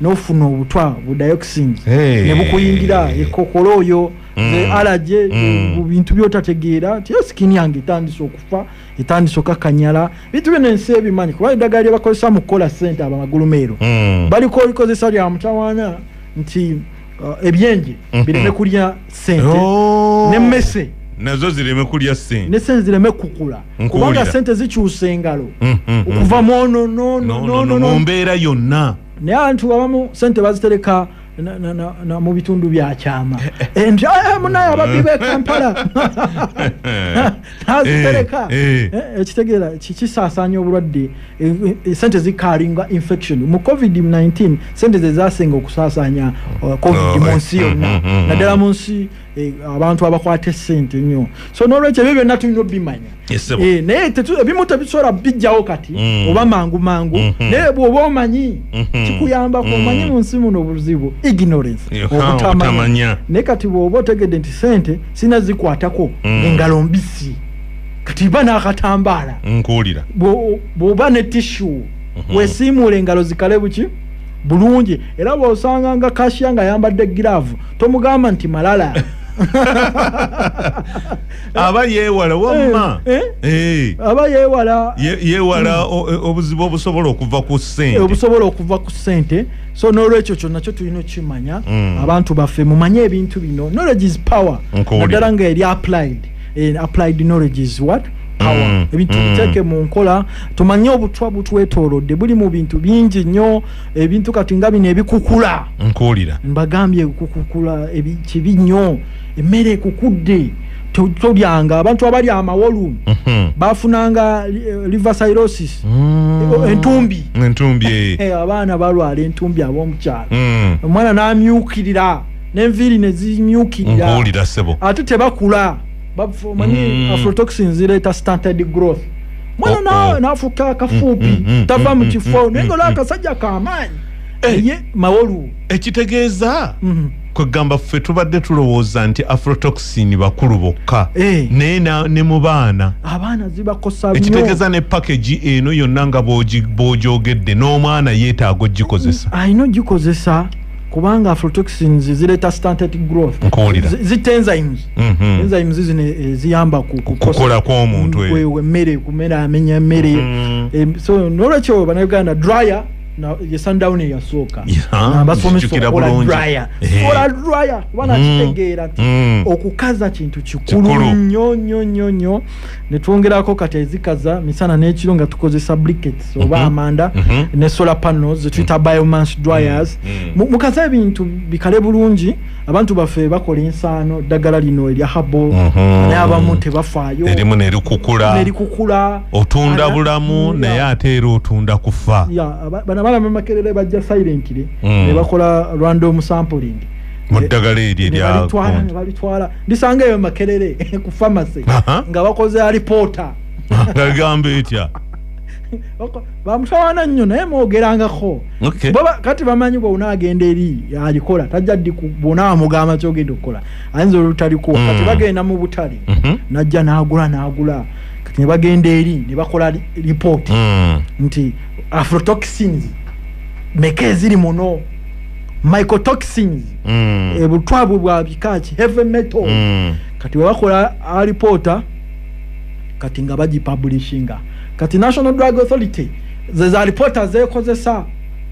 [SPEAKER 2] nofuna obutwa bu dioxin hey. nebukuyingira ekokolo oyo mm. alaje mm. Eh, bintu byotategeera tiyo sikini yange etandise okufa etandise okakanyala bintu byona ensi ebimanyi kuba eddagala lyebakozesa mu kukola sente abamagulumeero mm. baliko likozesa lya mutawaana nti uh, ebyenje mhm. bireme kulya sente oh. ne mese nazo zireme
[SPEAKER 1] kulya sente ne sente zireme kukula
[SPEAKER 2] kubanga sente zikyusa engalo mhm, mhm. okuva
[SPEAKER 1] mwono
[SPEAKER 2] no no no no mu mbeera yonna naye abantu abamu sente bazitereka na mu bitundu bya kyama eh, eh. eh, nti ah, munaye ababbi be kampala azitereka eh, eh. eh, ekitegeera kisaasaanya obulwadde sente zikalinga infection mu covid-19 sente zezasinga okusaasaanya uh, covid oh, mu nsi mm, yonna mm, mm, naddala mu nsi abantu abakwata esente nnyo so nolwekyo ebyo byonna tulina obimanya naye ebimu tebisobola bijjawo kati oba mangu mangu mm-hmm. naye bwoba omanyi mm-hmm. kikuyambako mm-hmm. omanyi mu nsi muno obuzibu ignorance obutamanya naye kati bwoba otegedde nti sente sina zikwatako mm. engalo mbisi kati ba nakatambaala nkuwulira
[SPEAKER 1] bwoba ne
[SPEAKER 2] tishu mm -hmm. wesiimuula engalo zikale buki bulungi era bwosanga nga kashiya nga ayambadde giraavu tomugamba nti malala
[SPEAKER 1] aba yewala wamma eh, eh? Eh. aba
[SPEAKER 2] yewala
[SPEAKER 1] yewala obuzibu obusobola okuva ku sente obusobola okuva ku sente so n'olwekyo kyonna kyo tulina okukimanya mm. abantu baffe mumanye ebintu bino knowledge is power naddala nga eri applied eh, applied knowledge is what power mm. ebintu mm. biteeke mu nkola tumanye obutwa butwetoolodde buli mu bintu bingi nnyo ebintu kati nga bino ebikukula nkuwulira mbagambye
[SPEAKER 2] kukukula kibi nnyo emmere ekukudde tolyanga abantu abali amawolu mhm. bafunanga eh, liversirosis mm. eh, entumbi entumbi eh. abaana balwala entumbi abomukyalo mm. omwana namyukirira nenviiri nezimyukirira ate tebakula manyi mm. afrotoxin zireeta stanted growth mwana oh, oh. nafuka kafupi tava mukifo naye nga olwakasajja kamaanyi eye mawolu ekitegeeza
[SPEAKER 1] kwegamba ffe tubadde tulowooza nti afrotoxin bakulu bokka eh. naye ne mu baana abaana zibakosa
[SPEAKER 2] ekitegeeza ne pakagi
[SPEAKER 1] eno yonna nga bwogyogedde n'omwana yeetaaga ogikozesa alina ogikozesa
[SPEAKER 2] kubanga afrotoxins zireeta stantet growth zitenzymes mhm. enzymes zino eziyamba eh, kukola
[SPEAKER 1] kwomuntu emmere kumera
[SPEAKER 2] amenya emmere mhm. eh, so nolwekyo banauganda dryer na ye sundown eyasooka Yeah, Na basomesa njijukira okukola bulungi. dryer. Eh. Kola dryer kuba Mm. nakitegeera nti Mm. okukaza kintu Kikulu. kikulu nnyo nnyo nnyo nnyo ne twongerako kati ezikaza misana n'ekiro nga tukozesa briquettes oba Mhm. amanda Mhm. ne solar panels zetuyita biomass dryers Mhm. Mu- mukaza ebintu bikale bulungi abantu baffe bakola ensaano ddagala lino erya habo mhm. naye abamu tebafaayo erimu nerikukula
[SPEAKER 1] nerikukula otunda bulamu naye ate era otunda kufa bana balama
[SPEAKER 2] makerere bajja silently mm. ne bakola random sampling muddagala
[SPEAKER 1] eryo eryabalitwala
[SPEAKER 2] ndisanga eyo makerere ku pharmacy nga bakoze alipoota agamba
[SPEAKER 1] etya bamutawana
[SPEAKER 2] nnyo naye mwogerangako kati bamanyi bwona agenda eri alikola tajja ddi bwona amugamba kyogenda okukola ayinza olutalikuwa mm. kati bagenda mu butale mhm. najja nagula nagula kati nebagenda eri nebakola lipooti mm. nti afrotoxins meka eziri muno mycotoxins mm. ebutwabwe bwa bikaki heavy metal kati webakola alipoota kati nga bagipublishinga kati national drug authority ze za lipoota zeekozesa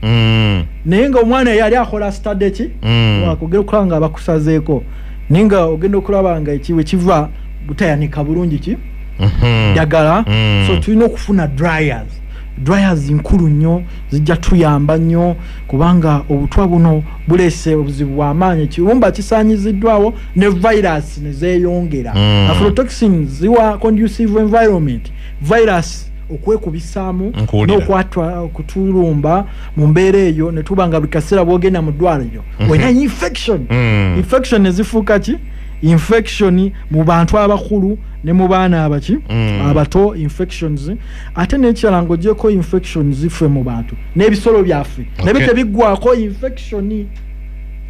[SPEAKER 2] Mm. naye nga omwana yali akola stade ki Mm. wakugera okulaba nga bakusazeeko naye nga ogenda okulaba nga ekiwe kiva butayanika bulungi ki Mhm. ddagala Mm. so tulina okufuna dryers dryers nkulu nnyo zijja tuyamba nnyo kubanga obutwa buno buleese obuzibu bw'amaanyi ekiyumba kisaanyiziddwawo ne virus ne zeeyongera mm. afrotoxin ziwa conducive environment virus okwekubisaamu n'okwatwa okutulumba mu mbeera eyo ne tuba nga buli kaseera bwogenda mu ddwaliro mhm. olina infection mm. infection ne zifuuka ki infection mu bantu abakulu ne mu baana abaki mm. abato infections ate n'ekirala ng'ogyeko infections ffe mu bantu n'ebisolo byaffe okay. nabyo tebiggwako infection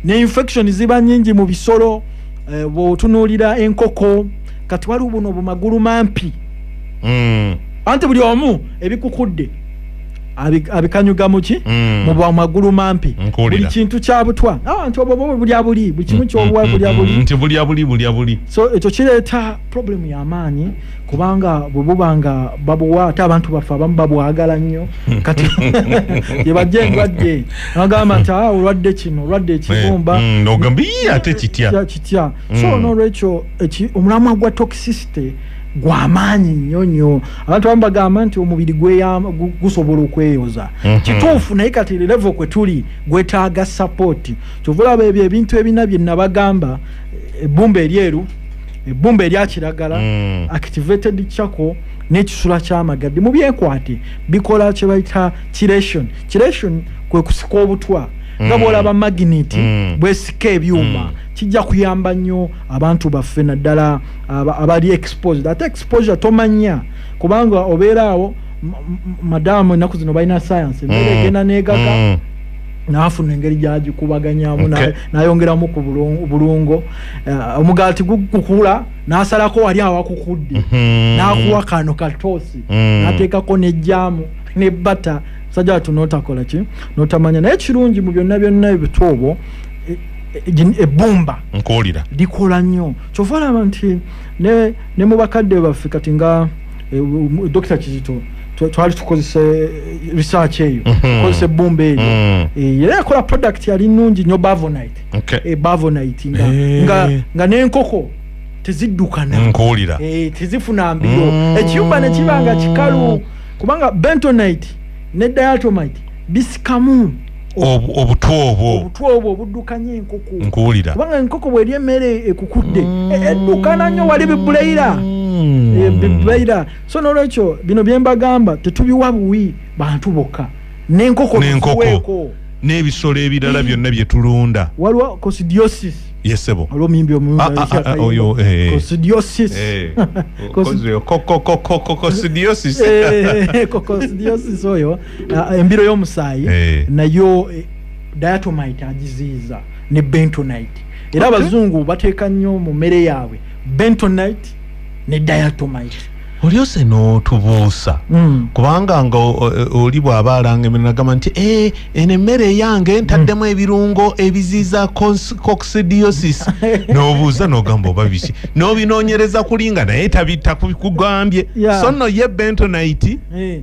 [SPEAKER 2] ne infection ziba nyingi mu bisolo eh, bwotunuulira enkoko kati waliwo buno obumagulu mampi mm. anti buli omu ebikukudde abikanyuga muki mm. mubwa magulu mampi buli kintu kyabutwa abantu ah, obo bulya buli buli kimu mm, kyobuwa mm, bulya buli nti bulya buli bulya
[SPEAKER 1] buli so ekyo
[SPEAKER 2] kireeta problemu y'amaanyi kubanga bwe buba nga babuwa ate abantu baffe abamu babwagala nnyo hmm. kati yebajja endwadde agamba nti ah, olwadde kino olwadde ekibumba hmm, hmm, ate kitya
[SPEAKER 1] kitya
[SPEAKER 2] so nolwekyo omulamwa gwa
[SPEAKER 1] toxicity
[SPEAKER 2] gwamaanyi nnyo nnyo abantu abamu bagamba nti omubiri gusobola okweyoza mhm. kituufu naye kati levo kwe tuli gwetaaga sapoti kyova olaba ebyo ebintu ebina bye nabagamba ebbumba eryeru ebbumba erya kiragala mm. activated chako n'ekisula ky'amagadde mu byekwate bikola kye bayita kiration kiration kwe kusika obutwa nga mm. bwolaba magnet mm. bwesika ebyuma mm. kijja kuyamba nnyo abantu baffe naddala abali exposed ate exposure tomanya kubanga obeeraawo madamu ennaku zino balina sayansi embeera egenda negaga nafuna engeri gyagikubaganyamu okay. nayongeramu ku bulungo uh, omugaati gukukula nasalako wali awakukudde mm -hmm. nakuwa kano katoosi mm -hmm. nateekako nejjaamu ne bata sajja watu notakola ki notamanya naye kirungi mu byonna byonna ebitoobo e, e, e, ebbumba nkuwulira likola
[SPEAKER 1] nnyo
[SPEAKER 2] kyova olaba nti ne, ne mu bakadde baffe kati nga eh, dokita kizito twali tukozesa eh, research eyo mhm. tukozesa ebbumba eyo mm. eh, era yakola product yali nungi nyo bavonite eh, bavonite nga nenkoko teziddukana nkuwulira
[SPEAKER 1] tezifuna mbiro
[SPEAKER 2] mm. ekiyumba nekiba nga kikalu kubanga bentonite ne diatomite bisikamu obutwa obwo obutwa obwo obuddukanya enkoko nkuwulira kubanga enkoko
[SPEAKER 1] bweri
[SPEAKER 2] emmere ekukudde mm. e, eddukana nnyo wali bibulayira mm. e, bibulayira so nolwekyo bino byembagamba tetubiwa buwi bantu bokka nenkoko nenkoko
[SPEAKER 1] n'ebisolo ebirala byonna bye tulunda waliwo cosidiosis
[SPEAKER 2] yesebo olwomuyimbi omuoyo cosidiosis cosidiosis oyo uh, embiro y'omusaayi eh. nayo eh, diatomite agiziyiza ne bentonite era abazungu okay. bateeka nnyo mu mmere yaabwe bentonite ne diatomite olyose
[SPEAKER 1] n'otubuusa mm. kubanga nga oli bw'aba alanga emiro nagamba nti e, eno emmere eyange ntaddemu mm. ebirungo ebiziiza coxidiosis n'obuuza n'ogamba oba biki n'obinoonyereza kulinga naye tabittakugambye yeah. so nno ye bentonite hey. Eh.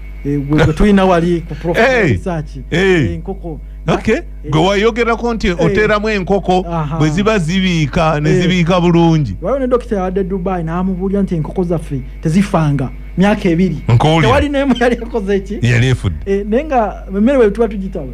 [SPEAKER 2] Eh, gwe tulina wali ku profesaki eh, eh. enkoko gwe wayogerako nti oteeramu enkoko bwe ziba zibiika ne zibiika bulungi waliwo ne dokita yawadde dubai n'amubuulira nti enkoko zaffe tezifanga myaka ebiri tewali nemu yali ekoze eki yali efudde naye nga emmere bwe tuba tugitaba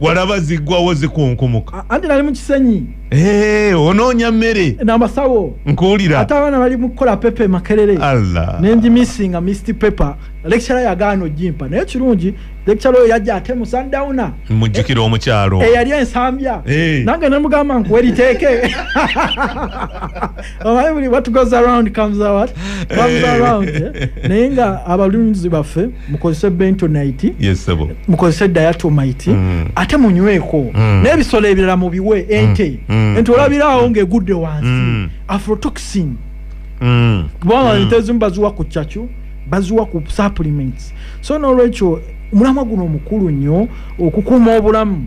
[SPEAKER 2] walaba ziggwawo zikunkumuka anti nali mukisenyi eh, onoonya mmere namasawo nkuwulira ate abaana bali mukukola pepa emakerere allah nenjimisinga mist paper lecture yagaana ojimpa naye kirungi lecture oyo yajja ate mu sundowna mujjukira omukyalo eyali eh, ensambya eh. nange nemugamba nkuweriteeke omanyi buli what goes around comes out comes around eh? naye nga abalunzi baffe mukozese bentonite yes, mukozese diatomite mm. ate munyweko mm. n'ebisolo ebirala mubiwe mm. ente mm. mm. ente olabiraawo ng'egudde wansi mm. afrotoxin mm. kubanga mm. ente ezimu baziwa ku cacu baziwa ku supplements so n'olwekyo omulamwa guno omukulu nnyo okukuuma obulamu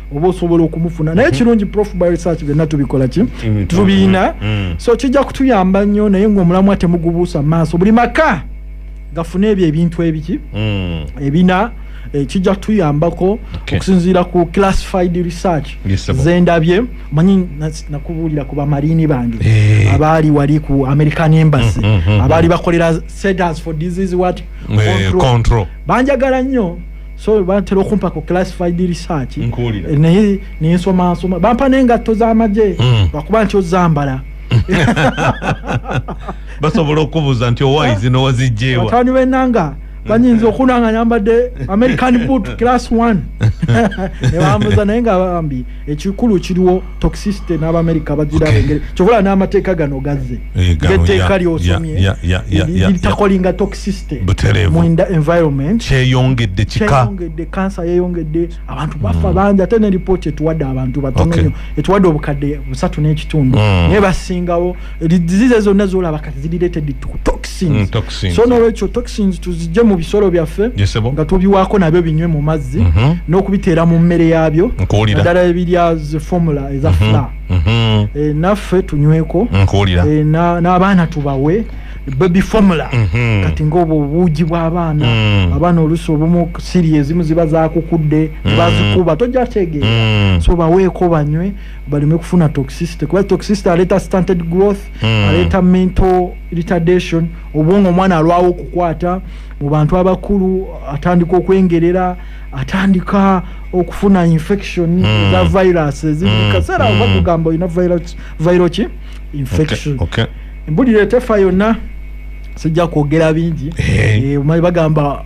[SPEAKER 2] oba osobola okumufuna naye mhm. kirungi prof by research byonna tubikola ki mhm. tubiina mhm. so kijja kutuyamba nnyo naye ngaomulamwa temugubuusa maaso buli maka gafuna ebyo ebintu ebiki mm. ebina eh, kijja kutuyambako okusinziira ku classified research zendabye manyi nakubuulira ku bamariini bange eh. abaali wali ku american embassy mm, mm, abaali bakolera centers for disease wat eh, banjagala nnyo so bantera okumpa ku classified research eh, naye nensoma nsoma bampa nengatto z'amagye mm. lwakuba nti ozambala
[SPEAKER 1] basobola okubuuza nti owayi zino wazijjeewa batani benanga
[SPEAKER 2] banyinza okunanga nyambadde american boot class one nebambuza naye nga bambi ekikulu kiriwo toxicity n'abamerika bagira okay. engeri kyobola n'amateeka gano gazze eh, etteeka lyosomye litakolinga toxicity mu environment kyeyongedde
[SPEAKER 1] kikayongedde kansa
[SPEAKER 2] yeyongedde abantu bafa mm. bangi ate ne lipooti etuwadde abantu batono nyo etuwadde obukadde busatu n'ekitundu mm. naye basingawo disease zonna zolaba kati ziri related to toxins, mm, toxins. so nolwekyo toxins tuzijje mu bisolo byaffe nga tubiwaako nabyo binywe mu mazzi mm -hmm. n'okubiteera mu mmere yaabyo naddala ebirya formula eza mm -hmm. fla mm -hmm. e, eh, naffe tunyweko e, n'abaana na tubawe baby formula mm -hmm. kati ngaobwo obuugi bw'abaana mm. abaana olusi obumu siri ezimu ziba zakukudde mm. bazikuba tojja tegeera mm. so baweeko banywe baleme kufuna toxicity kuba toxicity aleeta stunted growth mm. aleeta mental retardation obwongo omwana alwawo okukwata mu bantu abakulu atandika okwengerera atandika okufuna infection mm. za virus ezikaseera hmm. mm. bakugamba olina viro ki infection okay. Okay. embulira etefa yonna sijja kwogera bingi hey. Eh. e, eh, bagamba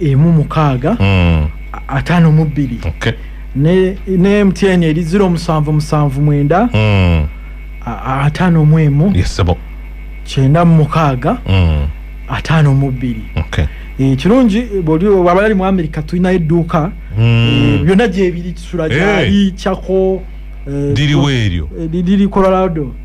[SPEAKER 2] emu mukaaga hmm. ataano mu bbiri ne mtn eri ziro musanvu musanvu mwenda hmm. ataano mu emu
[SPEAKER 1] kyenda mu
[SPEAKER 2] mukaaga hmm. ataano mu bbiri ekirungi eh, bwoli waba yali mu amerika tulinayo edduuka eh, byonna gyebiri kisula gyali cako diriwo
[SPEAKER 1] eryo diri
[SPEAKER 2] colorado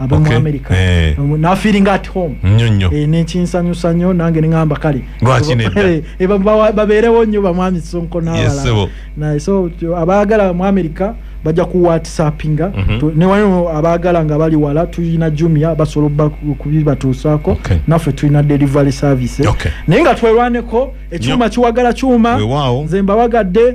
[SPEAKER 2] abe okay. mu america eh. nafiringa at home nyo nyo e, eh, nekinsanyusa nyo nange nengamba kale lwaki nedda eh, e, babeerewo nyo bamwami sonko nawala yes, so abaagala mu america bajja ku whatsappinga mm -hmm. newano abaagala nga bali wala tulina jumia basobola kubibatuusaako okay. naffe tulina delivery service okay. naye nga twerwaneko ekyuma kiwagala kyuma nze mbawagadde